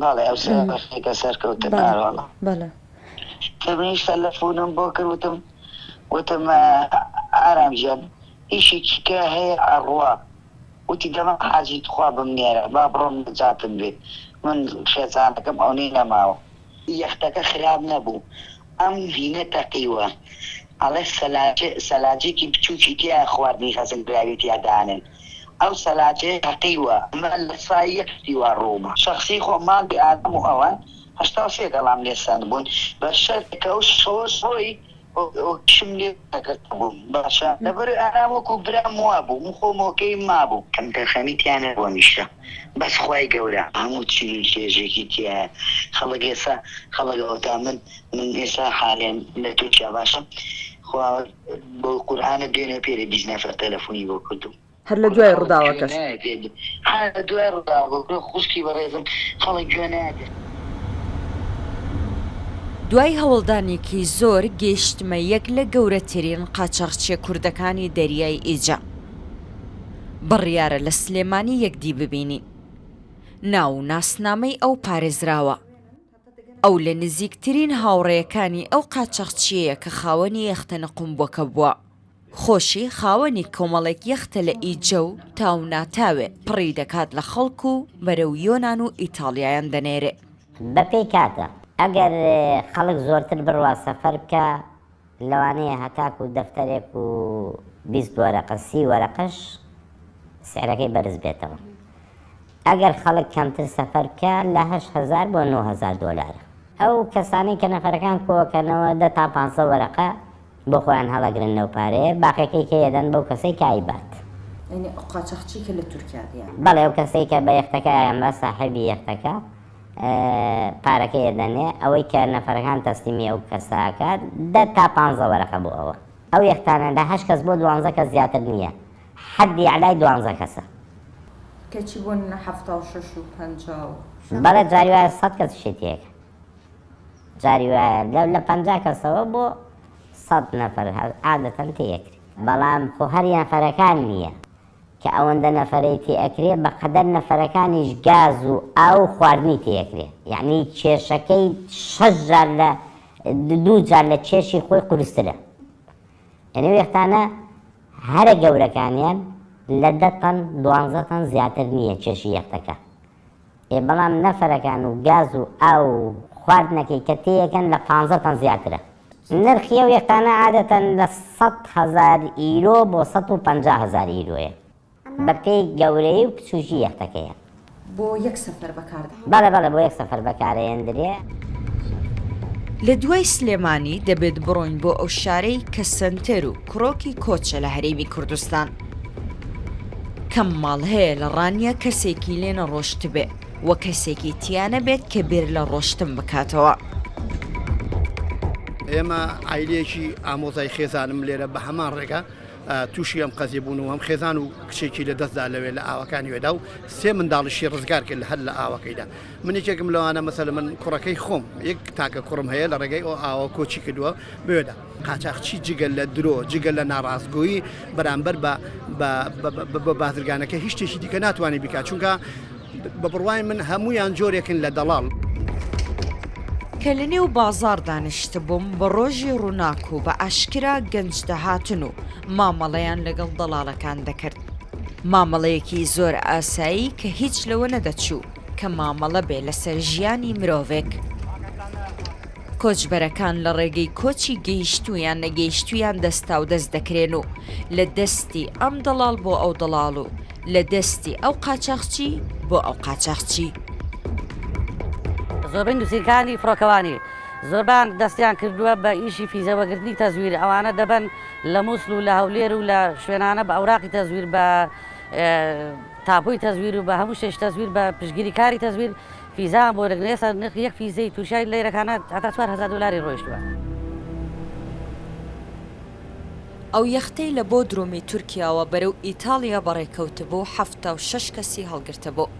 بەڵێ ئەو سێ بەشێکە سەرکەوتن بەڵێ نارۆڵە بەڵێ کە منیش تەلەفونم بۆ کرد وتم وتم ئە، ئارام گیان ئیشێکی کە هەیە ئەڕوا وتی دەما حاجی تخوا بمنێرە با بڕۆم نەجاتم بێ من خێزانەکەم ئەونەی نەماوە یەختەکە خراپ نەبوو ئەم ڤینە تەقیوە ئەڵێ سەلاجێکی بچوکی تیا خواردنی هەزم کراوی تیا دانێن ئەو سەلاجەیە تەقیوە ئەمە لە سای یەک شتی وا ڕووما شەخسی خۆم ماڵی ئارام و ئەوان هەشتا و سێ گەڵام لێ سەندبوون بە شەرتێکەوە شۆرش خۆی کشم لێ نەکردبووم باشە لەبەر ئارام وەکو برام وابوو من خۆم ئۆکەی مابوو. کەم تەرخەمی تیا نەبوو هەمیشە بەس خوای گەورە هەموو چی چێژێکی تیایە خەڵک ئێستا خەڵک ئەوەتا من من ئێستا حالێن لە تورکیا باشە خوا بەو قورئانە بێنە پێرێ بیست نەفەر تەلەفونی بۆ کردووم هەر لە دوای ڕوداوەکەش. دوای هەوڵدانێکی زۆر گەیشتمە یەک لە گەورەترین قاچاخچیە کوردەکانی دەریای ئیجە بڕیارە لە سلێمانی یەکدی ببینین ناو و ناسنامەی ئەو پارێزراوە. ئەو لە نزیکترین هاوڕێیەکانی ئەو قاچاخچییەیە کە خاوەنی یەختە نقومبووەکە بووە. خۆشی خاوەنی کۆمەڵێک یەختە لە ئیجە و تاو ناتاوێ پڕی دەکات لە خەڵک و بەرەو یۆنان و ئیتاڵیایان دەنێرێ. بە پێی کاتە ئەگەر خەڵک زۆرتر بڕوا سەفەر بکا، لەوانەیە هەتاکوو دەفتەرێک و بیست وەرەقە سی وەرەقەش سعرەکەی بەرز بێتەوە ئەگەر خەڵک کەمتر سەفەر بکا لە هەشت هەزار بۆ نۆ هەزار دۆلارە. ئەو کەسانەی کە نەفەرەکان کۆکەنەوە دە تا پانسە وەرەقە بۆ خۆیان هەڵەگرن لەو پارەیە باقیەکەی کێ یەدەن بەو کەسەی کە ئەیبات. یانی ئەو قاچاخچی کە لە تورکیا دێن. بەڵێ ئەو کەسەی کە بە یەختەکە ئەیانبا ساحێبی یەختەکە. پارەکەی ئەدەنێ ئەوەی کە نەفەرەکان تەسلیمی ئەو کەسە ئەکات دە تا پانزە وەرەقە بۆ ئەوە ئەو یەختانە لە هەشت کەس بۆ دوانزە کەس زیاتر نییە حەدی ئەعلای دوانزە کەسە کەچی بۆ نمونە حەفتا و شەش و پەنجا و بەڵێ جاری وایە سەد کەس شتی تێکە جاری وایە لەو لە پەنجا کەسەوە بۆ سەد نەفەر هەر عادەتەن تێیەکرێ بەڵام خۆ هەر یەنەفەرەکان نییە کە ئەوەندە نەفەرەی تێ ئەکرێ بەقەدەر نەفەرەکانیش گاز و ئاو و خواردنی تێ ئەکرێ یەعنی کێشەکەی شەش جار لە دوو جار لە کێشی خۆی قورسترە یەعنی ئەو یەختانە هەرە گەورەکانیان لە دە تەن دوانزە تەن زیاتر نییە کێشی یەختەکە ئێ بەڵام نەفەرەکان و گاز و ئاو و خواردنەکەی کە تێیەکەن لە پانزە تەن زیاترە. نرخی ئەو یەختانە عادەتەن لە سەد هەزار ئیرۆ بۆ سەد و پەنجا هەزار ئیرۆیە بە پێی گەورەیی و پچووکی یەختەکەیە. بۆ یەک سەفەر بەکار دێ. بەڵێ بەڵێ بۆ یەک سەفەر بەکارەێندرێ. لە دوای سلێمانی دەبێت بڕۆین بۆ ئەو شارەی کە سەنتەر و کرۆکی کۆچە لە هەرێمی کوردستان. کەم ماڵ هەیە لە ڕانیە کەسێکی لێ نەڕۆشتبێ و کەسێکی تیا نەبێت کە بیر لە ڕۆشتن بکاتەوە. ئێمە عیلەیەکی ئامۆزای خێزانم لێرە بە هەمان ڕێگە تووشی ئەم قەزی بوون و هەم خێزان و کچێکی لە دەستدا لەوێ لە ئاوەکانی وێدا و سێ منداڵشی ڕزگار کرد هەر لە ئاوەکەیدا منێکێکم لەوانە مەسەل من کوڕەکەی خۆم یەک تاکە کوڕم هەیە لە ڕێگەی ئەو ئاوە کۆچی کردووە بێدا قاچاخچی جگە لە درۆ، جگە لە ناڕاستگۆیی بەرامبەر بە بازرگانەکە هیچ شتێکی دیکە ناتوانێت بیکات، چونکە بە بڕوای من هەموویان جۆرێکن لە دەڵاڵ. کە لەنێو بازاڕ دانیشتبووم بە ڕۆژی ڕووناک و بە ئاشکرا گەنج دەهاتن و مامەڵەیان لەگەڵ دەڵاڵەکان دەکرد، مامەڵەیەکی زۆر ئاسایی کە هیچ لەوە نەدەچوو کە مامەڵە بێ لەسەر ژیانی مرۆڤێک. کۆچبەرەکان لە ڕێگەی کۆچی گەیشتوو یان نەگەیشتوویان دەستاودەست دەکرێن و لە دەستی ئەم دەڵاڵ بۆ ئەو دەڵاڵ و لە دەستی ئەو قاچاخچی بۆ ئەو قاچاخچی. زۆربەی نووسینگەکانی فڕۆکەوانی زۆربەیان دەستیان کردووە بە ئیشی فیزە وەگرتنی تەزویر، ئەوانە دەبەن لە موسڵ و لە هەولێر و لە شوێنانە بە ئەوراقی تەزویر، بە تاپۆی تەزویر و بە هەموو شتێش تەزویر، بە پشتگیریکاری تەزویر، فیزا بۆ لە ئێستا نرخی یەک فیزەی تورکیای لە یرەکانە هەتا چوار هەزار دۆلاری ڕۆیشتووە. ئەو یەختەی لە بۆدرومی تورکیاوە بەرەو ئیتاڵیا بەڕێکەوتبوو حەفتا و شەش کەسی هەڵگرتبوو،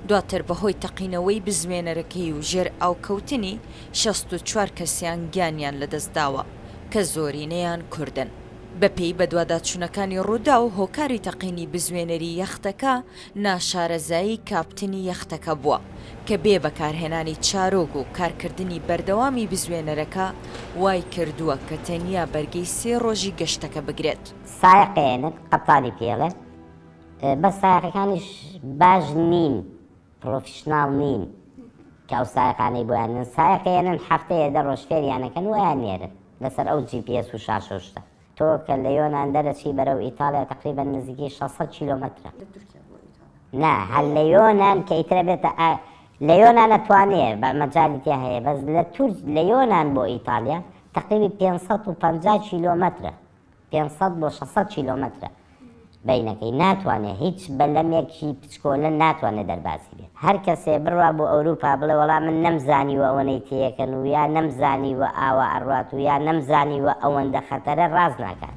دواتر بەهۆی تەقینەوەی بزوێنەرەکەی و ژێرئاوکەوتنی شەست و چوار کەسیان گیانیان لەدەستداوە کە زۆرینەیان کوردن. بەپێی بەدواداچوونەکانی رووداو، هۆکاری تەقینی بزوێنەری یەختەکە، ناشارەزایی کاپتنی یەختەکە بووە، کە بێ بەکارهێنانی چارۆگ و کارکردنی بەردەوامی بزوێنەرەکە، وای کردووە کە تەنیا بەرگەی سێ رۆژی گەشتەکە بگرێت. سایەق ئێنک، قەپتانی پێڵێ، بەس سایەقەکانیش باش نین، پرۆفیشناڵ نین کە ئەو سایەقانەی بۆیان نێن، سایەق ئێنن هەفتەیە دە رۆژ فێریانەکەن و ئەیان نێرن لەسەر ئەو جی پی ئێس و شاشە و شتە. تۆ کە لە یۆنان دەرەچی بەرەو ئیتاڵیا تەقریبەن نزیکی شەش سەد کیلۆمەترە. لە تورکیا بۆ ئیتاڵیا. نا هەر لە یۆنان کە ئیتر ئەبێتە ئا لە یۆنان ئەتوانێ بە مەجالی تیا هەیە بەس لە تورک لە یۆنان بۆ ئیتاڵیا تەقریبی پێنج سەد و پەنجا کیلۆمەترە پێنج سەد بۆ شەش سەد کیلۆمەترە بەینەکەی ناتوانێ هیچ بەلەمێکی پچکۆلە ناتوانێ دەربازی بێت هەرکەسێ بڕوا بۆ ئەوروپا بڵێ وەڵا من نەمزانیوە ئەوەنەی تێیەکەن و یا نەمزانیوە ئاوا ئەڕوات و یا نەمزانیوە ئەوەندە خەتەرە ڕاست ناکات.